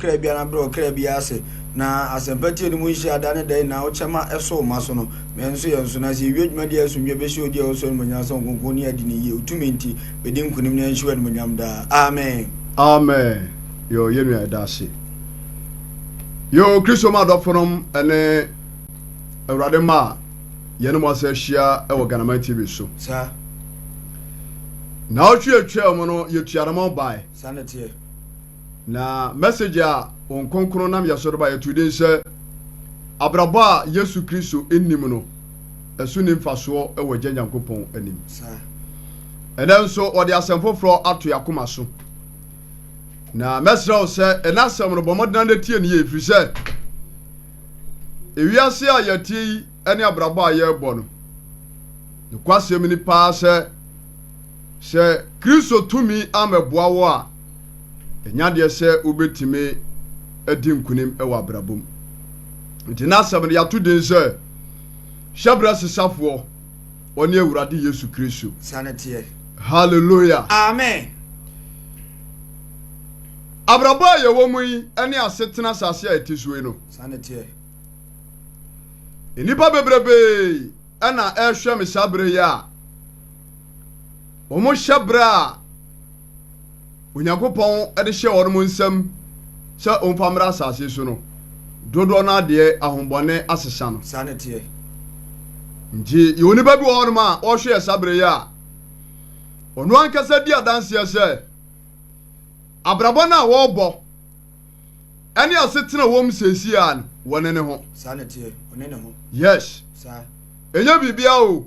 kra biara na brɛ ɔkra biara ase na asɛmpa tie no mu nhyira da ne dɛn na wokyɛ ma ɛso wo ma so no ma ɛnso yɛn so na sɛ yɛwie dwumadi a asomdwoe bɛhyɛ wo di a wosɔ animuonyam sɛ wo nkronkronne adi ne yie wo tumi nti bɛdi nkonim na yɛnhyɛ wo animuonyam daa amen. Amen yoo yɛn nua yɛda ase yoo kristo mu adɔfonom ɛne awurade mma a yɛne mo asa ahyia ɛwɔ Ghanaman TV so saa na ɔtwe atwa mu no yɛtua no mo bae saa na teɛ. Na message a Hom Kronkron nam yɛ so reba, yɛtoo din sɛ, Abrabɔ a Yesu Kristo Nnim no, Ɛso Nni Mfasoɔ wɔ Agya Nyankopɔn Anim. Ɛnnɛ nso, wɔde asɛm foforɔ ato yɛn akoma so. Na mɛsrɛ wo sɛ, ɛnɛ asɛm no, bɔ mmɔden na tie no yie, ɛfiri sɛ, ewiase a yɛte yi ne abrabɔ a yɛrebɔ no. Nokwasɛm ni paa sɛ, sɛ Kristo tumi ammɛboa wo a, ɛnyɛ adeɛ sɛ wobɛtumi adi nkonim wɔ abrabɔ mu. Nti n'asɛm no yɛato din sɛ, Hyɛberɛ Sesafoɔ, Ɔne Awurade Yesu Kristo. Saa na teɛ. Hallelujah. Amen. Abrabɔ a yɛwɔ mu yi ne asetena asase a ɛte so yi no. Saa na teɛ. Nnipa bebrebee na ɛrehwɛ me saa berɛ yi a wɔhyɛ berɛ a Onyankopɔn de hyɛ wɔn nsam sɛ wɔmfa mmra asase so no dodoɔ no adeɛ ahombɔne asesa no. Saa ne teɛ. Nti yɛ onipa bi wɔ hɔnom a ɔrehwɛ yɛ saa berɛ yi a ɔno ankasa di adanseɛ sɛ abrabɔ no a wɔrebɔ ɛne asetena wɔ mu seesei ara no, wɔne ne ho. Saa na ɛteɛ, wɔne ne ho. Yes. Saa. Ɛnyɛ biribiara o,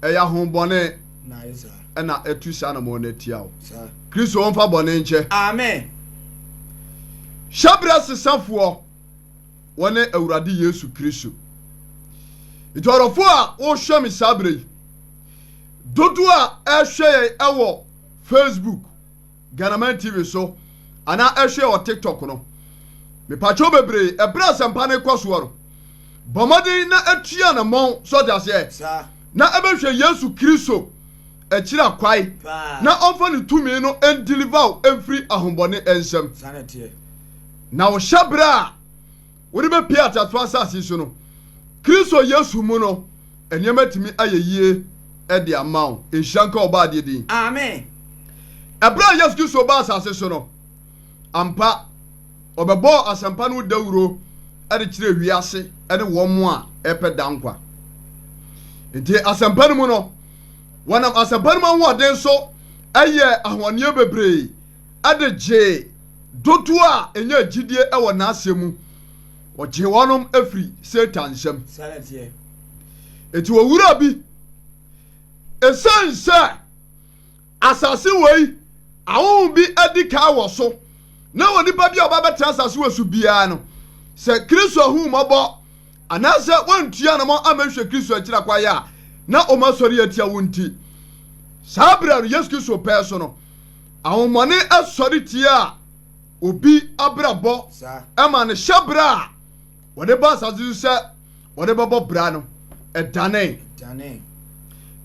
ɛyɛ ahonbɔne. Na ayɛ saa. Ɛna ɛtu saa anamɔn no atia wo. Saa. Kristo wɔ mfa bɔne nkyɛ. Amen. Hyɛbrɛ sesafoɔ, wɔne Awurade Yesu Kristo. Nti ɔdɔfoɔ a wohwɛ me saa berɛ yi, dodoɔ a ɛhwɛ yɛn ɛwɔ Facebook, Ghanaman TV so anaa ɛhwɛ wɔ TikTok no. Mepakyɛw bebree, bere a asɛmpa no rekɔ soɔ no, bɔ mmɔden na tu anammɔn, so ɔte aseɛ, na ɛbɛhwɛ Yesu Kristo akyira kwae na ɔmfa ne tumi no ndeliver wo mfiri ahombɔne nsam. Na wo hyɛberɛ a. Wode bɛpue ateasefoɔ asase yi so no, Kristo Yesu mu no, nneɛma atumi ayɛ yie de ama wo. Nhyira nka Ɔbɔadeɛ din. Amen. Ɛberɛ a Yesu Kristo baa asase so no, ampa, Ɔbɛbɔɔ asɛmpa no ho dawuro de kyerɛɛ wiase ne wɔn a ɛrepɛ daa nkwa. Nti asɛmpa no mu no, wɔnam asɛmpa no mu ahoɔden so yɛɛ ahoɔneɛ bebree de gyee dodoɔ a ɛnyaa gyidie wɔ n'asɛm mu, ɔgyee wɔn firi Satan nsam. Enti owura bi, ɛsiane sɛ asase wei ahonhom bi adi kan wɔ so, na onipa bi a ɔba bɛtena asase wei so biara no, sɛ Kristo ahummɔbɔ anaasɛ wɔantua ne mɔ amɛhwɛ Kristo akyira kwaeɛ a na wɔn asɔre atia wo nti, saa berɛ no Yesu Kristo pɛɛ so no, Ahomɔne sɔre tia obi abrabɔ ma ne hyɛbra a wɔde ba asase so sɛ wɔde bɛbɔ bra no ɛdane.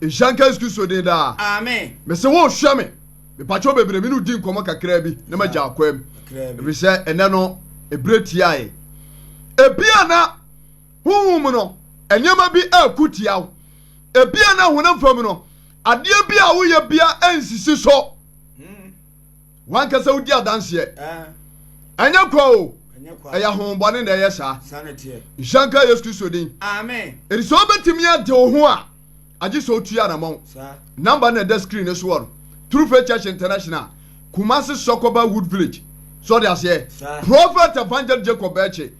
Nhyira nka Yesu Kristo din daa. Amen. Mese wo hwɛ me. Mepakyɛw bebree me no di nkɔmɔ kakra bi na magya akwa mu. Efisɛ ɛnɛ no ebire tiae. Ebia na honhom no nneɛma bi ɛko tiaw. Ebia na honam fam no Adeɛ biara a woyɛ biara nsisi so. Wankasa wodi adanseɛ. Ɛnyɛ kwa o, ɛyɛ ahohombɔne na ɛyɛ saa. Nhyira nka Yesu Kristo din. Enti sɛ wobɛtumi ade wo ho a, agye sɛ wotu anamɔn. Namba no na ɛda screen no soɔ no. True Faith Church International, Kumasi Sɔkɔba Wood Village. So ɔde aseɛ? Prophet Evangel Jacob Bɛɛkye.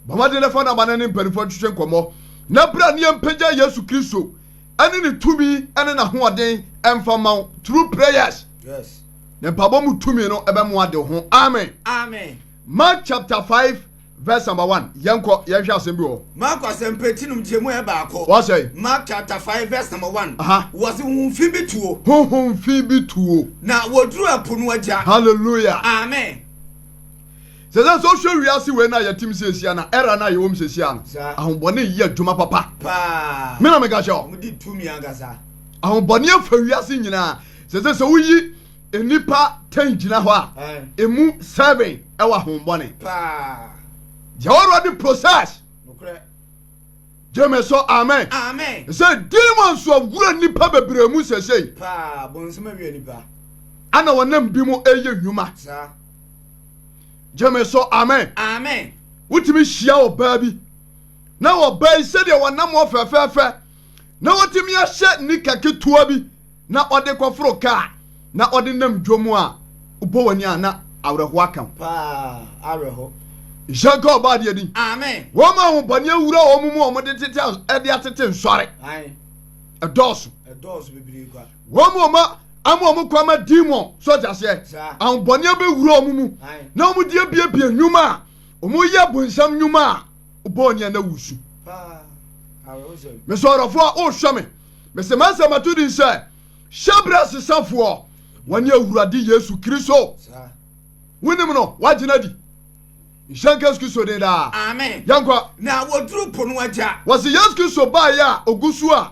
Bɔ mmɔden na fa namba no ne mpanimfoɔ ntwetwe nkɔmmɔ. Na bra ne yɛmpagya Yesu Kristo. ɛne ne tumi ɛne n'ahoɔden ɛmfa mma wo through prayers yes. ne mpabɔ mu tumi no ɛbɛmoa de ho amen amen Mark chapter 5 verse number 1 yɛnkɔ yɛnhwɛ asɛm bi wɔ Mark asɛmpa ti nom gyemu ɛ baako wɔsɛ Mark chapter 5 verse number 1 wɔse honhom fi bi tuo honhom fi bi tuo na wɔduru ɛpo no agya hallelujah amen Sɛ sɛ sɛ wohwɛ wiase wei no a yɛtem siesia na era no a yɛwɔ mu siesia no, ahobɔne yi adwuma papa. Me na meka kyɛ wo. Ahobɔne afa wiase nyinaa. Sɛ sɛ sɛ woyi nnipa ten gyina hɔ a, emu seven ɛwɔ ahobɔne. Deɛ Awurade process. Gyeme so amen. Sɛ demons so awura nnipa bebree mu sɛsɛi. Ana wɔnam bi mu ɛyɛ nnwuma. gyeme so amen amen wotumi hyia ɔbaa bi na ɔbaa yi sɛdeɛ wɔnam wɔ fɛfɛɛfɛ na wɔtumi ahyɛ nika ketewa bi na ɔde kɔforo kaa na ɔde nam dwom a wobɔ w'ani a na awerɛho aka ho paa awerɛho nhyɛ nka ɔbaa deɛ din amen wɔn a ahobɔne awura wɔn mu wɔn de tete ɛde atete nsɔre ɛdɔɔso ɛdɔɔso bebree kwa Wɔn mu wɔn ama wɔn kwan ma demon so ɔte aseɛ ahobɔne abɛwura wɔn mu na wɔn de abiebie nnwuma a wɔn yɛ bonsam nnwuma a wobɔɔ nea na wusu. Mesɔrɔfoɔ a wohwɛ me, mese m'asɛm ato din sɛ hyɛbrɛ sesafoɔ wɔne Awurade Yesu Kristo. Wonim no, woagyina adi. Nhyɛ nka Yesu Kristo den daa. Amen. Yɛnkɔ. Na wɔduru po no agya. Wɔse Yesu Kristo baeɛ a ogu so a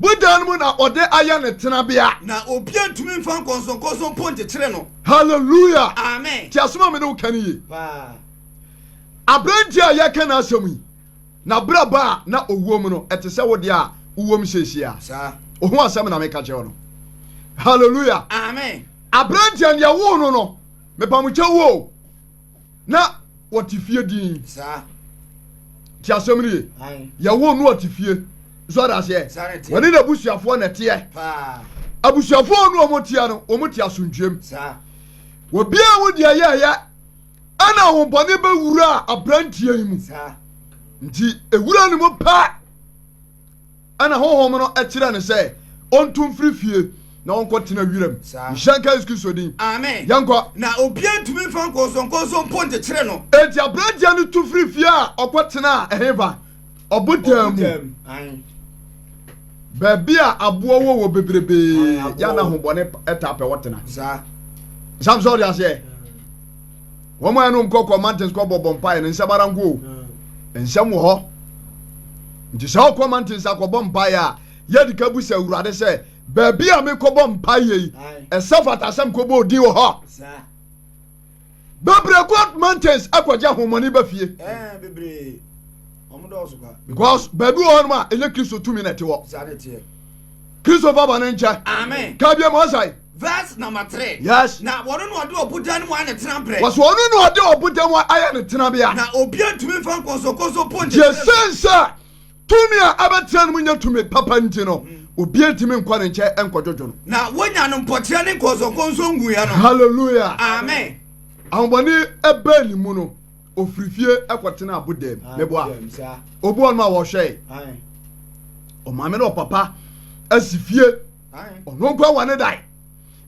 Bodan mu na ɔde ayɛ ne tenabea. Na obiara ntumi mfa nkɔnsɔnkɔnsɔn mpo nkyekyere no. Hallelujah. Amen. Ti asɛm a mene wo ka no yie. Paa. Aberanteɛ a yɛka n'asɛm yi, n'abrabɔ a na ɔwom no, ɛte sɛ wo deɛ a wowom seesie a. Saa. Oho asɛm na meka kyerɛ wo no. Hallelujah. Amen. Aberanteɛ no yɛwoo no no, mepamokyɛ woo. na wɔte fie dinn ti asɛm no ye yɛwo no ɔte fie nso ɔda aseɛ wɔne n'abusuafoɔ na ɛteɛ abusuafoɔ no wɔn teɛ no wɔn te asomdwuam obiara wo deɛ yɛyɛ ɛna ahobɔne bɛwura aberanteɛ yi mu nti ewura no mu paa Ɛnna honhom no kyerɛɛ no sɛ ontu mfiri fie na ɔnkɔtena wiram. Nhyɛnka Yesu Kristo din. Amen. Yɛnkɔ. Na obiara ntumi mfa nkɔnsɔnkɔnsɔn mpo nkyekyere no. Enti aberanteɛ no tu firii fie a ɔkɔtenaa ɛhefa? Ɔbotan mu. Ɔbotan mu. Ae. Baabi a aboɔ wɔ wɔ bebrebe Ae, aboɔ yɛ na wɔ. ahobɔne p- taa pɛ hɔ tena. Saa. Sam sɛ ɔde aseɛ. wɔn a ɛno nkɔ kɔ mountains kɔ bɔbɔ mpaeɛ no nsɛm ara nko o nsɛm wɔ hɔ nti sɛ ɔkɔ mountains akɔbɔ mpaeɛ a yɛde ka bu sɛ awurade sɛ baabi a mekɔbɔ mpaeɛ yi ɛsɛ fata sɛ mkɔbɔ odin wɔ hɔ bebree kɔ mountains akɔgye ahomɔne ba fie because baabi wɔ hɔnom a ɛnyɛ kristo tumi na ɛte hɔ kristo fa ba no nkyɛ ka biam ɔsae Verse number three. Yes. Na wɔn na ɔde ɔbodan no mu ayɛ ne tenabrɛ. Wɔsɛ ɔno na ɔde ɔbodan mu ayɛ ne tenabea. Na obiara ntumi nfa nkɔnsɔnkɔnsɔn po nkyɛn. Gye sɛ sɛ tumi a ɛbɛtena no mu nyɛ tumi papa nti no, obiara ntumi nkɔ ne nkyɛn nkɔdwodwo no. Na wonya no mpɔkyerɛ ne nkɔnsɔnkɔnsɔn nguiɛ no. Hallelujah. Amen. Ahobɔne ɛbɛn ne mu no, ofiri fie ɛkɔtena abodan mu. Meboa. Obu ɔno a wɔhwɛe. Ɔmaame na ɔpapa asi fie. ɔno nkwa wɔ ne dan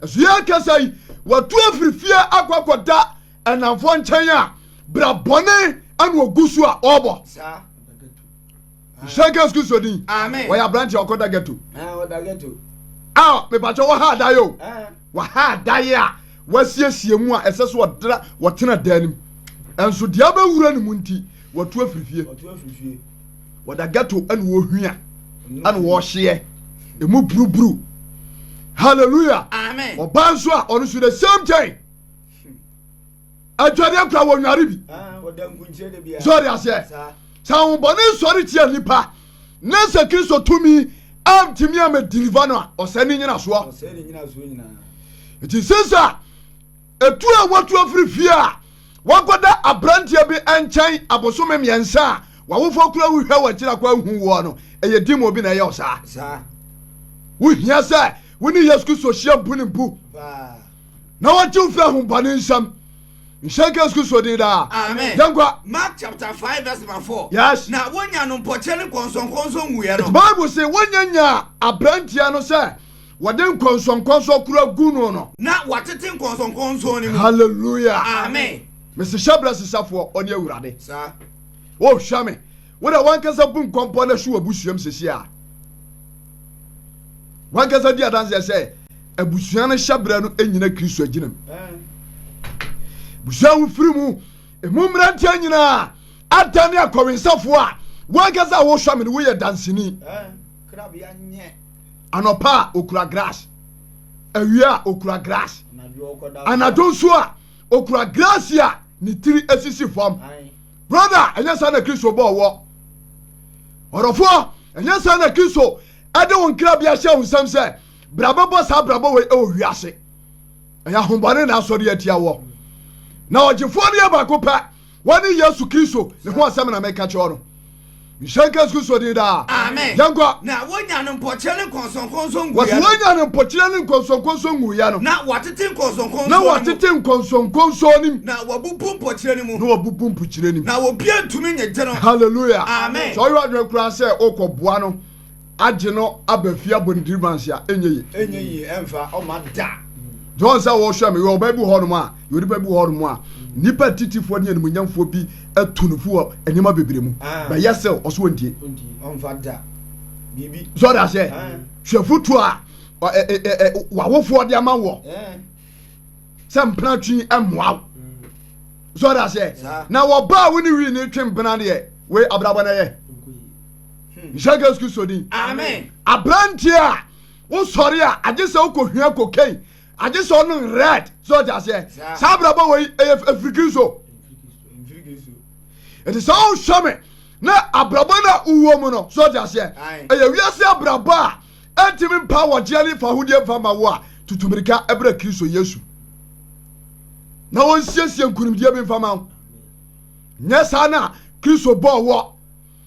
ɛso yɛ kasa yi watu afiri fie akɔ akɔda ɛnamfoɔ nkyɛn a bra bɔne ɛna ogu so a ɔbɔ nhyɛ gas kristo din wɔyɛ aberanteɛ ɔkɔda ghetto a mepakyɛ wɔha adaeɛ o wɔha adaeɛ a wɔasiesie mu a ɛsɛ so ɔdra wɔtena dan no mu ɛnso deɛ abɛwura no mu nti watu afiri fie wɔda ghetto ɛna wɔhwia ɛna wɔhyeɛ ɛmu buruburu hallelujah amen ɔbaa nso a ɔno nso the same thing adwadeɛ kora wɔ nware bi sɔre aseɛ sɛ ahobɔne nsɔre tia nnipa ne sɛ kristo tumi amtumi amadiniva no a ɔsɛ ne nyinasoɔ nti sesa Etu a watu afiri fie a wakɔda aberanteɛ bi nkyɛn abosome mmiɛnsa a w'awofoɔ kura wo hwɛ w'akyiri akɔ ahu woɔ no, ɛyɛ demon bi na ɛyɛ wo saa. Wohia sɛ wo ne Yesu Kristo hyia mpo ne mpo na wɔgye wo firi ahobɔne nsam. Nhyɛ nka Yesu Kristo din daa. Amen. Yɛn kwa. Mark chapter five verse number four. Yes. Na wonya no mpɔkyɛ ne nkɔnsɔnkɔnsɔn wuiɛ no. Bible se wonya nyaa aberanteɛ no sɛ Wɔde nkɔnsɔnkɔnsɔn kura gu no no. Na wɔatete nkɔnsɔnkɔnsɔn no mu. Hallelujah. Amen. Mese hyɛbrɛ sesafoɔ ɔne awurade. Saa. Wohwɛ me. Wo na wankasa bu nkɔmpɔ na hwe w'abusuam sisi a. Wankasa di adanseɛ sɛ abusua no hyɛbrɛ no nyina Kristo agyinam. Busua wofiri mu, emu mmeranteɛ nyinaa adane akɔwensafoɔ a wankasa a wohwɛ me no woyɛ danseni. Krabea nyɛ. anɔpa a okura grass awia a okura grass anadwo nso a okura grass a ne tiri asisi fam brother ɛnyɛ saa na kristo bɔɔ wɔ ɔdɔfoɔ ɛnyɛ saa na kristo ɛde wo nkra bi ahyɛ wo nsɛm sɛ bra bɛbɔ saa brabɔ wei ɛwɔ wiase ɛyɛ ahombɔne na asɔre atia wɔ na ɔgyefoɔ no yɛ baako pɛ Wɔne Yesu Kristo ne ho asɛm na meka kyerɛ no. Nhyɛ nka Yesu Kristo din daa. Amen. Yɛn kwa. Na wonya no mpɔkyerɛ ne nkɔnsɔnkɔnsɔn nguiɛ. Wɔsi wonya no mpɔkyerɛ ne nkɔnsɔnkɔnsɔn nguiɛ no. Na wɔatete nkɔnsɔnkɔnsɔn no mu. Na wɔatete nkɔnsɔnkɔnsɔn no mu. Na wɔabubu mpɔkyerɛ no mu. Na wɔabubu mpɔkyerɛ no mu. Na obiara ntumi nyegye no. Hallelujah. Amen. Sɛ ɔyɛ adwene koraa sɛ ɔkɔboa no. agye no aba fie abɔ ne tiri manse a ɛnyɛ ye. ɛnyɛ ye ɛmfa ɔma da. John sɛ wɔhwɛ me yɛ ɔbaa bi hɔ nom a yɛ onipa bi hɔ nom a nnipa titifoɔ ne animuonyamfoɔ bi atu no fo wɔ nneɛma bebree mu ah. bɛyɛ sɛ ɔso ɔntie ɔmfa da biribi sɔre aseɛ ah. hwɛ foto a wawofoɔ de ama wɔ eh. sɛ mpena twi mmoa wo sɔre aseɛ na wɔbaa wo ne wii ne twe mpena deɛ wei abrabɔ no yɛ nhyɛ yesu kristo din aberanteɛ a wosɔre a agye sɛ wokɔhwia kokain agye sɛ ɔno red sɛ ɔte aseɛ saa abrabɔ wei ɛyɛ ɛfiri kristo ɛti sɛ wohwɛ me na abrabɔ no a wowɔ mu no sɛ ɔte aseɛ ɛyɛ wiase abrabɔ a ɛntimi mpa wɔgyeɛ ne fa hodeɛ mfa ma wo a tutumirika ɛbrɛ kristo yesu na wɔnsiesie nkonimdie bi mfa ma wo nyɛ saa no a kristo bɔɔ wɔ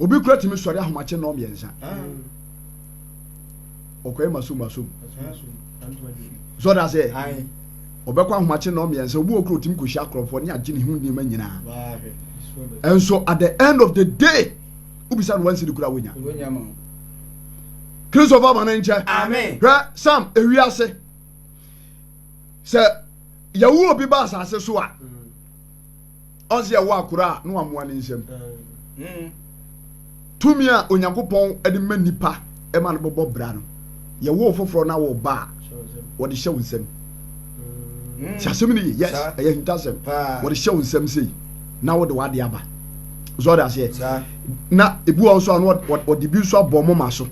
obi kura tumi sɔre ahomakye nnɔɔ mmiɛnsa ɔkɔɛ masom masom sɔre aseɛ ɔbɛkɔ ahomakye nnɔɔ mmiɛnsa obi wɔ kura otumi kɔhyia akorɔfoɔ ne agye ne ho nneɛma nyinaa ɛnso at the end of the day wobisa no wansiri kura wonya kristo fa ma no nkyɛ hwɛ sam ewi ase sɛ yɛwo obi ba asase so a mm. Ɔse ɛwɔ akora a na wamoa ne nsam. Tumi a Onyankopɔn de ma nnipa ma no bɔbɔ bra no, yɛwo wo foforɔ na wo ba a, wɔde hyɛ wo nsam. Ti asɛm no ye, yes, ɛyɛ ahintasɛm. Wɔde hyɛ wo nsam sei na wode w'ade aba. So ɔde aseɛ? Na ebi wɔ nso a na wɔde bi nso abɔ moma so.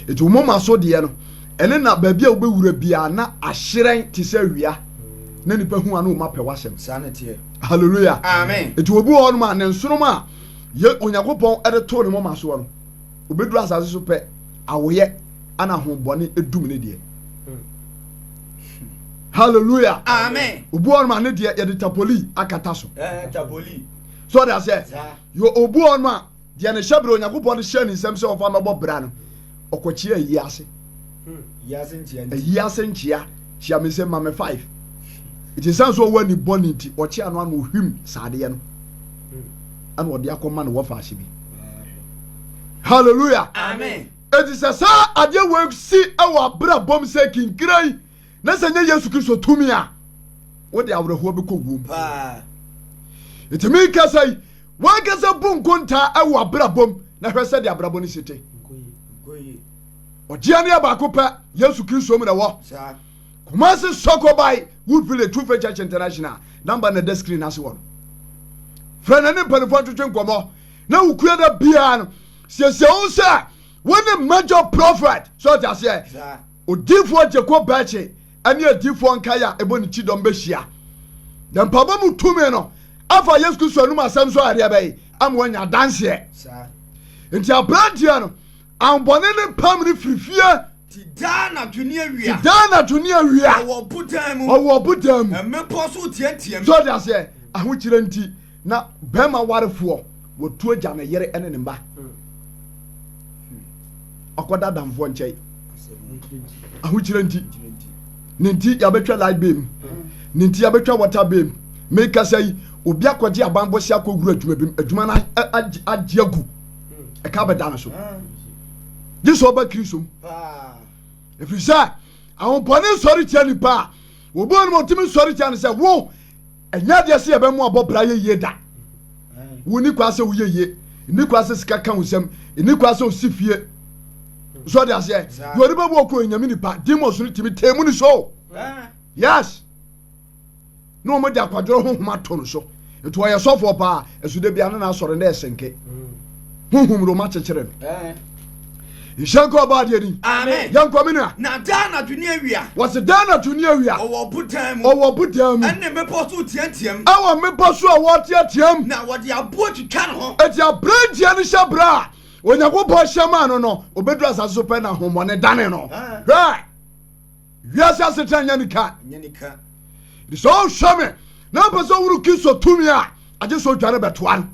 Eti wo moma so deɛ no, ɛne na baabi a wobɛwura biara na ahyerɛn te sɛ awia. na nnipa hu ano ma pɛ w'asɛm. Saa na teɛ. Hallelujah. Amen. Eti obi wɔ hɔnom a ne nsonom a yɛ Onyankopɔn de too ne moma soɔ no, obɛduru asase so pɛ awoyɛ ana ahombɔne edum ne deɛ. Hallelujah. Amen. Obi wɔ hɔnom a ne deɛ yɛde tapoli akata so. Eh, tapoli. So ɔde aseɛ. Yɛ obi wɔ hɔnom a Deɛ ne hyɛberɛ Onyankopɔn de hyɛɛ ne nsam sɛ ɔmfa mmɛbɔ bra no, ɔkɔkyeaa ayi ase. Ayi ase nkyea kyea me nsam ma me five. Nti ɛsiane sɛ ɔwɔ ani bɔne nti, ɔkyeaa no ana ɔhwim saa adeɛ no ana ɔde akɔma ne wɔfaase bi. Hallelujah. Amen. Enti sɛ saa adeɛ wei si wɔ abrabɔ mu sɛ kinkirai Na sɛ nyɛ Yesu Kristo tumi a, wode awerɛhoɔ bɛkɔ wuo mu. Nti merekasa yi, wankasa bu nkontaa wɔ abrabɔ mu na hwɛ sɛdeɛ abrabɔ no si te. Ɔgyeɛ no yɛ baako pɛ, Yesu Kristo mu na ɛwɔ. Kumasi Sokobai Wood Village True Faith Church International number na ɛda screen ase wɔ no. Frɛ na ne mpanimfoɔ ntwetwe nkɔmmɔ na wo kua da biara no siesie wo sɛ wo ne major prophet so ɔte aseɛ. Odiyifoɔ Jacob Birche ne adiyifoɔ nkaeɛ a ɛbɔ ne kyidɔm bɛhyia, na mpaebɔ mu tumi no afa Yesu Kristo anom asɛm so adeɛ bɛyɛ ama wɔanya adanseɛ. Nti aberanteɛ no, ahobɔne no pam no firi fie. Ti daa anadwo ne awia. Ti daa anadwo ne awia. Ɔwɔ ɔbodan mu. Ɔwɔ ɔbodan mu. Mmepɔ so teateam. So ɔde aseɛ ahokyerɛ nti. Na bɛrima warefoɔ wɔtu agya ne yere ne ne mma ɔkɔda adamfoɔ nkyɛn ahokyerɛ nti ne nti yɛabɛtwa light bay mu ne nti yɛabɛtwa water bay mu mekasa yi obi akɔgye abanbɔ si akɔwura adwuma bi mu adwuma no agye agu ɛka bɛda no so gye sɛ ɔba kristo mu ɛfiri sɛ ahopɔne nsɔre tia nipa a wɔbɔɔ no ma ɔtumi nsɔre tia no sɛ wo Ɛnyɛ adeɛ sɛ yɛbɛmo abɔ bra yɛ yie da. Wo ni kwa sɛ wo yɛ yie. Ni kwa sɛ sika ka wo nsam. Ni kwa sɛ osi fie. So ɔde aseɛ. Yɛ ɔde bɛbu ɔkɔ enyame nipa. Demons no timi tee mu ni so. Yes. Na wɔn de akwadoro ho homa to no so. Nti ɔyɛ sɔfoɔ paa. Ɛso da bia no na asɔre na ɛsɛnkɛ honhom roma kyekyere no nhyɛ nkɔ ɔbɔ adeɛ ni yɛnkɔ me nua na daa anadwo ne awia wɔse daa anadwo ne awia ɔwɔ bodan mu ɔwɔ bodan mu ɛne mmepɔ so teateam ɛwɔ mmepɔ so a wɔteateam na wɔde aboɔ twitwa ne ho ɛti aberanteɛ no hyɛ berɛ a onyankopɔn hyɛ maa no no ɔbɛduru asase so pɛ na hommɔne dane no hwɛ Wiase asetra nyɛ ne ka. Nti sɛ ɔhwɛ me na ɔpɛ sɛ ɔhunu Kristo tumi a, agye sɛ ɔdwane bɛtoa no.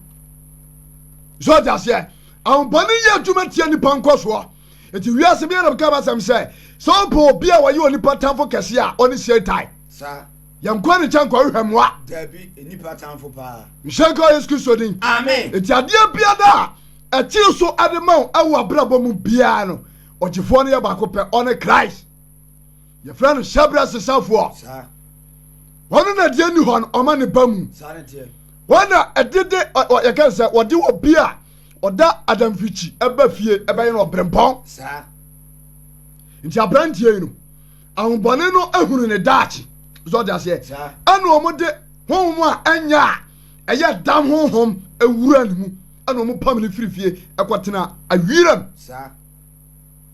Sɛ ɔte aseɛ, ahopɔne yɛ adwuma tia nipa nkɔsoɔ. Nti wiase biara bɛka basɛm sɛ, sɛ wopɛ obi a ɔyɛ onipa tamfo kɛse a, ɔne Satan. Yɛnkɔ ne nkyɛn nkɔhwehwɛ mmoa. Nhyɛ nka wɔ Yesu Kristo din. Nti adeɛ biara a ɛkyere so de ma wo wɔ abrabɔ mu biara no, Ɔgyefoɔ no yɛ baako pɛ, ɔne Christ. Yɛfrɛ no hyɛberɛ sesafoɔ. Wɔn na deɛ ni hɔ no ɔma ne ba mu. Wɔn na ɛdede yɛka sɛ wɔde obi a ɔda adamfikyi ɛba fie ɛbɛyɛ no ɔbrempɔn. Nti aberanteɛ yi no ahobɔne no ehunu ne daakye zɔ de aseɛ ɛna wɔn de honhom a ɛnyɛ a ɛyɛ dam honhom ewura ne mu. ɛna wɔn pam no firi fie ɛkɔ tena awiram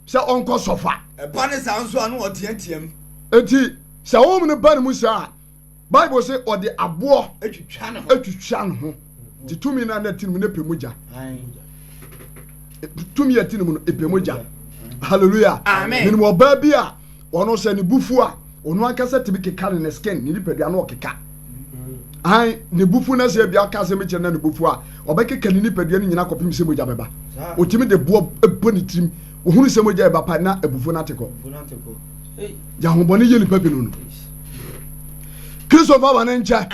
sɛ ɔnkɔ sɔfa. ɛba ne saa nso a na ɔteateam. eti sɛ wɔn no ba ne mu saa bible sɛ ɔde aboɔ atwitwa ne ho ti tumi na na ti ne mu na pɛ mu gya tumi a ti ne mu no pɛ mu gya hallelujah minimu ɔbaa bi a. Wɔn ɔsɛ ne bufu a ɔno ankasa tumi keka ne ne skin ne nipadua no ɔkeka han ne bufu na sɛ ebi aka asɛm bi kyerɛ na ne bufu a ɔbɛkeka ne nipadua no nyinaa kɔpem sɛ mogya bɛba ɔtumi de boɔ bɔ ne tirim ohunu sɛ mogya ɛba pa na abufuo no ate kɔ gya ahobɔne yɛ nipa binom no kristo fa wɔne nkyɛ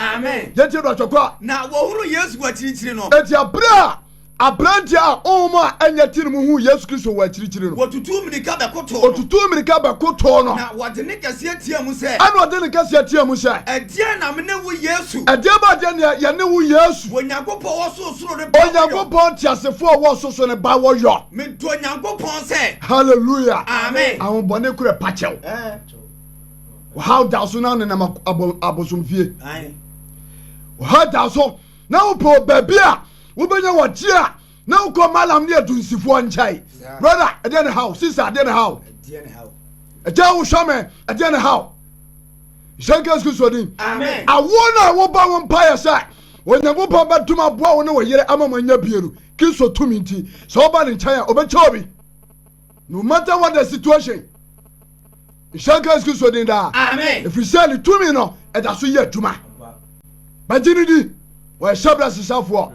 yɛtie do atwɔkɔ a na wɔhunu yesu akyirikyiri no ɛti aberɛ a Aberanteɛ a honhom a ɛnyɛ tee no mu huu Yesu Kristo wɔ akyirikyiri no. Wɔtutuu mmirika bɛkotoo no. Wɔtutuu mmirika bɛkotoo no. Na ɔde nne kɛseɛ teaam sɛ. Ɛnna ɔde nne kɛseɛ teaam sɛ. Ɛdeɛn na me ne wo Yesu? Ɛdeɛn ba deɛ na yɛne wo Yesu? Onyankopɔn wɔ sorosoro ne ba wɔ yɔ. Onyankopɔn teasefoɔ a ɔwɔ sorosoro ne ba wɔ yɔ. Medɔ Nyankopɔn sɛ. Hallelujah. Amen. Ahobɔne koro ɛpa kyɛw. Ɔhaw da so na nenam abosomfie. Ɔhaw da so na wopɛ baabi a wobɛnya wɔgye a na wokɔ malam ne adunsifoɔ nkyɛe brother ɛdeɛ ne haw sister ɛdeɛ ne haw ɛgya wo hwɛ me ɛdeɛ ne haw hyɛ nka yesu kristo din awoɔ no a woba wo mpaeɛ sɛ onyankopɔn bɛdom aboa wo ne wo yere ama mo anya bienu kristo tumi nti sɛ woba ne nkyɛn a ɔbɛkyɛ obi No matter what the situation, nhyɛ nka Yesu Kristo din daa. Ɛfiri sɛ ne tumi no ɛda so yɛ adwuma. Bɛgye ne di, wɔyɛ hyɛbrɛ sesafoɔ.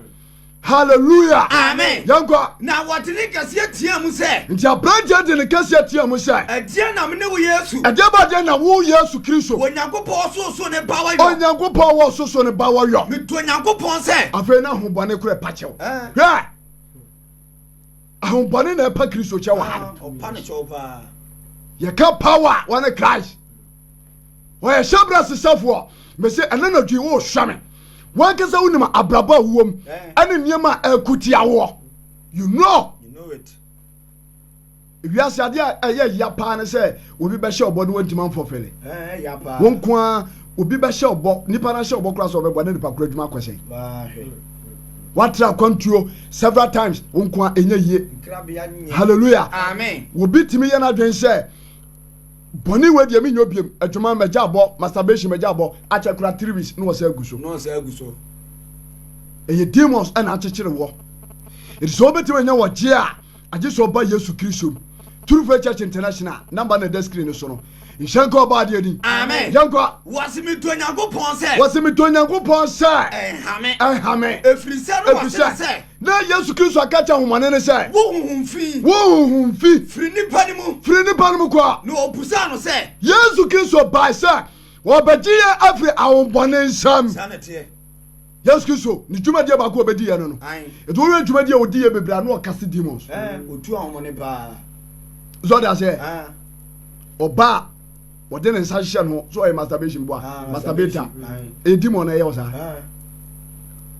Hallelujah. Amen. Yɛnkɔ. Na wɔde ne kɛseɛ teaa mu sɛ. Nti aberanteɛ de ne kɛseɛ teaa mu sɛ. Ɛdeɛ na mene wo Yesu. Ɛdeɛ ba deɛ na wo Yesu Kristo. Onyankopɔn ɔsoso ne ba wɔyɔ. Onyankopɔn wɔ soso ne ba wɔyɔ. Metu Onyankopɔn sɛ. Afei na ahobɔne korɛ pakyɛw. Hwɛ. Ahombɔne na ɛpa Kristo kyɛ wɔ ha no. Ɔpa no kyɛw paa. Yɛka power a wɔne Christ. Wɔyɛ hyɛ bra sesafoɔ. Mese ɛnɛ na dwi wo hwɛ me. Wankasa wonim abrabɔ a wowɔ mu ɛne nneɛma a ɛko tia woɔ. You know. You know it. Wiase adeɛ a ɛyɛ ya paa ne sɛ obi bɛhyɛ ɔbɔ no wɔntumi amfɔfele. Ɛyɛ ya paa. Wɔn nko ara obi bɛhyɛ ɔbɔ nipa no ahyɛ ɔbɔ koraa sɛ ɔbɛboa na nipa koro adwuma akɔ sɛn watra akwantuo several times wo nko a ɛnyɛ yie halleluya obi tumi yɛ no adwene sɛ bɔne wei deɛ menyɛ obiam adwuma magya abɔ masturbation magya abɔ akyɛ kora three weeks na wɔsɛ agu so ɛyɛ demons ɛna akyekyere wɔ ɛti sɛ wobɛtumi anya wɔgye a Agye sɛ ɔba Yesu Kristo mu. True Faith Church International a number na ɛda screen no so no. Nhyɛ nka ɔbaa adeɛ din. Amen. Yɛn kɔ. Wɔsi mi to Nyankopɔn sɛ. Wɔsi mi to Nyankopɔn sɛ. Ɛnhame. Ɛnhame. Efiri sɛ no wɔsi no sɛ. Na Yesu Kristo aka kyɛ ahomane no sɛ. Wo huhum fi. Wo huhum fi. Firi nipa no mu. Firi nipa no mu kɔ. Na obusa no sɛ. Yesu Kristo baa sɛ. Wɔbɛgye yɛn afiri ahomane nsam. Saa na ɛteɛ. Yesu Kristo ne dwumadie baako a ɔbɛdi yɛ no no. Ɛti wɔyɛ dwumadie a ɔdi yɛ bebree a na ɔka se demons. Ɔtu ahomɔ ne paa. Sɛ ɔde aseɛ ɔba a ɔde ne nsa hyehyɛ no sɛ ɔyɛ masturbation boa masturbator ɛyɛ demon na ɛyɛ ɔsaa.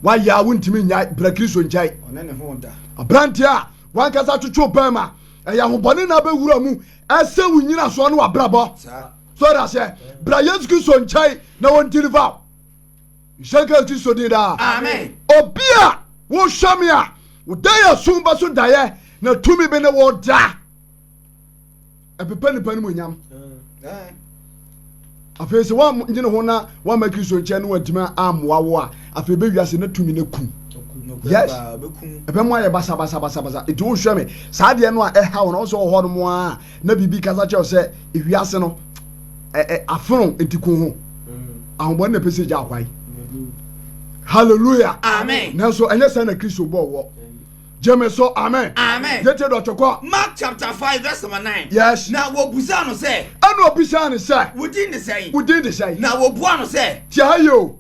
Wayɛ a wontumi nyae bra Kristo nkyɛe. Aberanteɛ a wankasa twotwo bɛrima ɛyɛ ahobɔne na abɛwura mu ɛsɛ wo nyina soɔ ne wabrabɔ. Sɛ ɔde aseɛ bra Yesu Kristo nkyɛe na wɔndiliva wo. Nhyɛnka Kristo din daa. Amen. Obi a wohwɛ me a, wodɛ yɛ som bɛ so dayɛ na tumi bi ne wo da. Ɛpepa nipa no mu nyam. Afei sɛ woanyɛ ne ho na woamma Kristo nkyɛn no adwuma ammoa wo a, afei bɛ wiase na tumi no aku. Yes. Ɛbɛmo ayɛ basabasabasabasa. Nti wohwɛ me, saa deɛ no a ɛha wo na wo sɛ wɔ hɔ nom a na biribi kasa kyerɛ sɛ ewiase no ɛɛ afono nti ko ho ahobɔne na ɛpɛ sɛ gya akwae hallelujah amen nanso ɛnyɛ sɛ na kristo bɔɔ wɔ gyeme so amen amen yɛtie dɔkye kɔ mark chapter five verse number nine yes na wɔbusaa no sɛ ɛna ɔbisaa no sɛ wodin de sɛn wodin de sɛn na wɔbua no sɛ tiaye o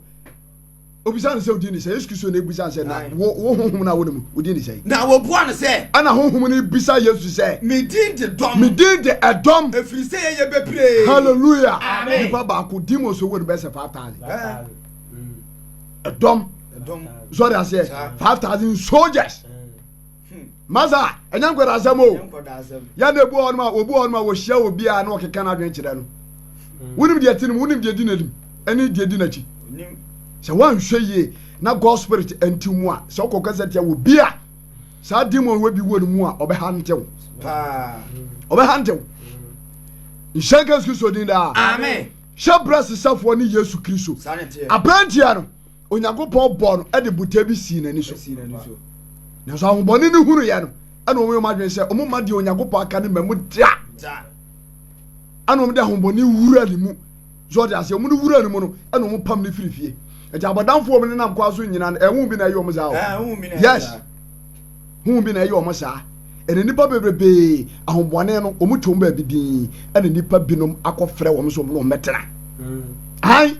Obisa no sɛ, Wodin ne sɛ? Yesu Kristo na ebisa no sɛ, Na wo, wo honhom no a wone mu, wodin ne sɛ? Na obua no sɛ. Ɛna honhom no bisa Yesu sɛ. Me din de dɔm. Me din de ɛdɔm. Efiri sɛ yɛyɛ bebree. Hallelujah. Amen. Nipa baako demons owó no bɛyɛ sɛ five thousand. Ɛdɔm. Ɛdɔm. Sɔre aseɛ. Five thousand soldiers. masa ɛnyɛ nkɔda asɛm o yɛn na ebu hɔ nom a obu hɔ nom a wɔhyia wɔ bi a na ɔkeka n'adwene kyerɛ no hmm. wonim deɛ ti no mu wonim deɛ di n'anim ɛne deɛ di n'akyi sɛ wɔanhwɛ yie na god spirit nti mu a sɛ ɔkɔ kasa tia wɔ bi a saa demon wɔ bi wɔ ne mu a ɔbɛha ntew ɔbɛha ntew nhyɛn kɛse kristo din daa hyɛ brɛ sesafoɔ ne yesu kristo aberantia no Onyankopɔn bɔɔ no de botae bi sii n'ani so. Nanso ahobɔne no hunu yɛ no, ɛna wɔn wɔn adwene sɛ wɔn mma deɛ Onyankopɔn aka no mma mu da. Ɛna wɔn de ahobɔne wura ne mu. So ɔde aseɛ wɔn no wura ne mu no, ɛna wɔn pam ne firi fie. Ɛti abɔdamfoɔ wɔn nenam kwan so nyina no, ɛho bi na ɛyɛ wɔn saa o. Ah, yes, ho bi na ɛyɛ wɔn saa. Ɛna nipa bebrebe ahobɔne no wɔn twɛn baabi din. Ɛna nipa binom akɔfrɛ wɔn so wɔn wɔn bɛtena. Hmm. Ayi.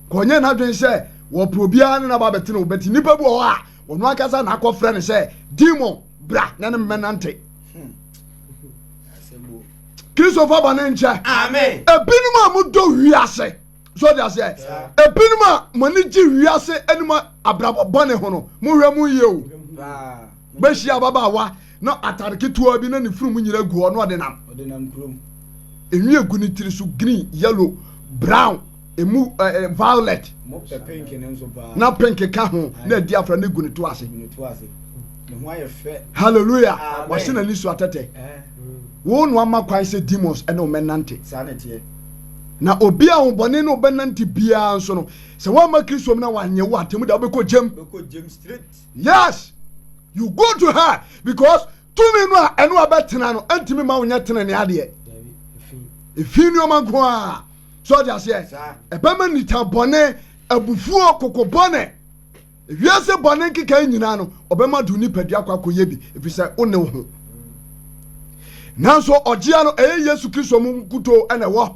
kɔnyɛ n'adwene sɛ wɔpɛ obiara ne no aba abɛtena o bɛti nipa bi wɔ hɔ a ɔno ankasa na akɔfrɛ no sɛ demon bra na ne mmɛnante kristofoɔ ba ne nkyɛ ebinom a modɔ wiase so de aseɛ ebinom a mo ani gye wiase ne mo abrabɔ bɔne ho no mohwɛ mo yie o Wobehyia ababaawa na atade ketewa bi na ne funu mu nyina gu hɔ na ɔde nam. Ɔde nam kurom. Enwi egu ne tiri so green, yellow, brown, emu eh, eh, violet. Mo pɛ pink ne nso paa. Na pink ka ho na adi afra na egu ne to ase. Egu ne to ase. Ne ho ayɛ fɛ. Hallelujah. Wɔhyɛ n'ani so atɛtɛ. Wo no ama kwan sɛ demons ɛne wɔn nante. Saa na teɛ. Na obi a ahobɔne ne ɔbɛnante biara nso no, sɛ wɔamma Kristo mu na wɔanyɛ wo atemmu da, wobɛkɔ gyam. Bɛkɔ gyam straight. Yes! You go to hell because tumi no a ɛno a bɛtena no ɛntumi ma wonyɛ tena ne adeɛ. Efi nneɛma nko a. So ɔde aseɛ. Ɛbɛma nita bɔne, abufuo, koko bɔne. Ewiase bɔne nkekae nyinaa no ɔbɛma do nipadua akɔ akɔyɛ bi efisɛ wo ne wo ho. Nanso ɔgyea no ɛyɛ Yesu Kristo mu nkutoo ɛna ɛwɔ.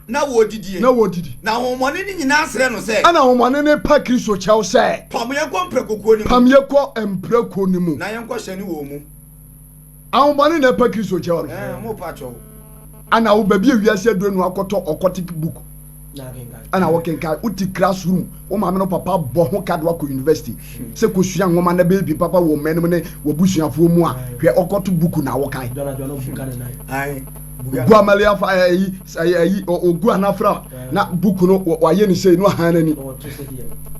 Na wɔredidie. Na wɔredidi. Na ahonhommɔne no nyinaa srɛ no sɛ. Ɛnna ahonhommɔne no pa Kristo kyɛw sɛ. Pam yɛn kɔ mprɛkokuo no mu. Pam yɛn kɔ mprɛkokuo no mu. Na yɛnkɔhyɛne wɔn mu. Ahonhommɔne na ɛpa Kristo kyɛw no. Ɛɛ, wɔrepa kyɛw. Ɛnna wobɛbie wiase aduro no akɔtɔ occultic book. Ɛnna wokenkan. Wote classroom, wo maame no papa bɔ ho ka de wakɔ university hmm. sɛ kɔsua nwoma na bɛyɛ bi papa wɔ mmanom ne w'abusuafoɔ mu a, hwɛ ɔkɔto buku na wokan. Guamaliafa ɛyi sɛ yɛ ayi ɔgu anafra na book no wayɛ ne sei no ahan n'ani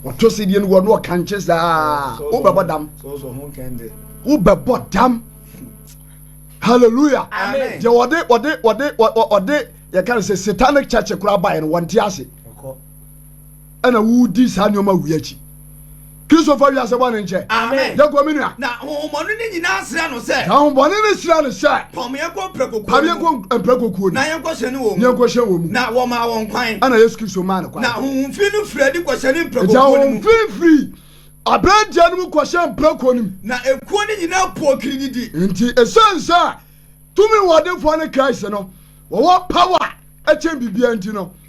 ɔto se deɛ no wɔ no ɔkankye saa wobɛbɔ dam wobɛbɔ dam hallelujah deɛ ɔde ɔde ɔde ɔde yɛka no sɛ satanic church koraa baeɛ no wɔnte ase ɛna wodi saa nneɛma wei akyi. Kristo fa wiase bɔne nkyɛ. Amen. Yɛ kɔ me nua. Na ahohommɔne ne nyinaa srɛ no sɛ. Na ahohommɔne ne srɛ no sɛ. Pam yɛn kɔ mprɛkokuo. Pam yɛn kɔ mprɛkokuo no. Na yɛn kɔ hyɛne wɔn mu. Na yɛn kɔ hyɛne wɔn mu. Na wɔmaa wɔn kwan. Ɛna Yesu Kristo maa no kwan. Na ahohomfiri no firi adi kɔ hyɛne mprɛkokuo no mu. Ɛdi ahohomfiri firi aberanteɛ no mu kɔ hyɛne mprɛkokuo no mu. Na ekuo no nyinaa poo kirididi. Nti esan sɛ tumi wɔdenfoɔ ne Christ no wɔwɔ power ɛkyɛn biribiara nti no.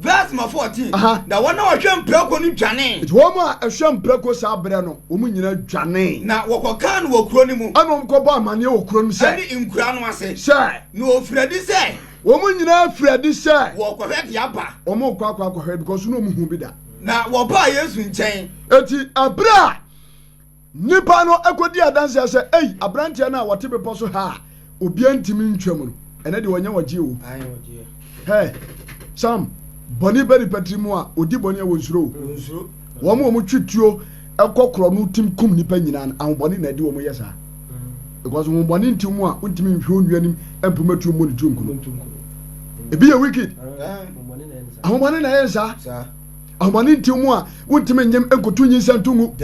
Verse ma fourteen. Aha. Na wɔn a wɔhwɛ mprako no dwanee, Nti wɔn a ɛhwɛ mprako saa berɛ no, wɔn nyinaa dwanee. na wɔkɔkaa no wɔ kuro no mu Ɛna wɔn kɔbɔ amaneɛ wɔ kuro no mu sɛ, ne nkura no ase, sɛ na wɔfiri adi sɛ wɔn nyinaa firi adi sɛ wɔrekɔhwɛ de aba. wɔn rekɔ akɔ akɔhwɛ because na wɔn hu bi da. Na wɔbaa Yesu nkyɛn. Eti ɛberɛ a Nnipa no kɔdii adanseɛ sɛ, Ei, aberanteɛ no a ɔte bepɔ so ha a obiara ntumi ntwam no, ɛnɛ deɛ ɔnyɛ ɔgyeɛ o. Hɛ, Sam, bɔne ba nipa tiri mu a, ɔdi bɔne a wɔnsuro o. Wɔn a wɔtwe tuo kɔ korɔ no tim kum nnipa nyinaa no, ahobɔne na ɛde wɔn yɛ saa. Because honhommɔne nti wɔn a wontumi nhwɛ onua anim mpoma tuo mmɔ ne tiri nkunu. Ebi yɛ wicked. Ahobɔne na ɛyɛ saa. ahomɔne nti mu a wontumi nyem nkoto nyinsɛn to ngu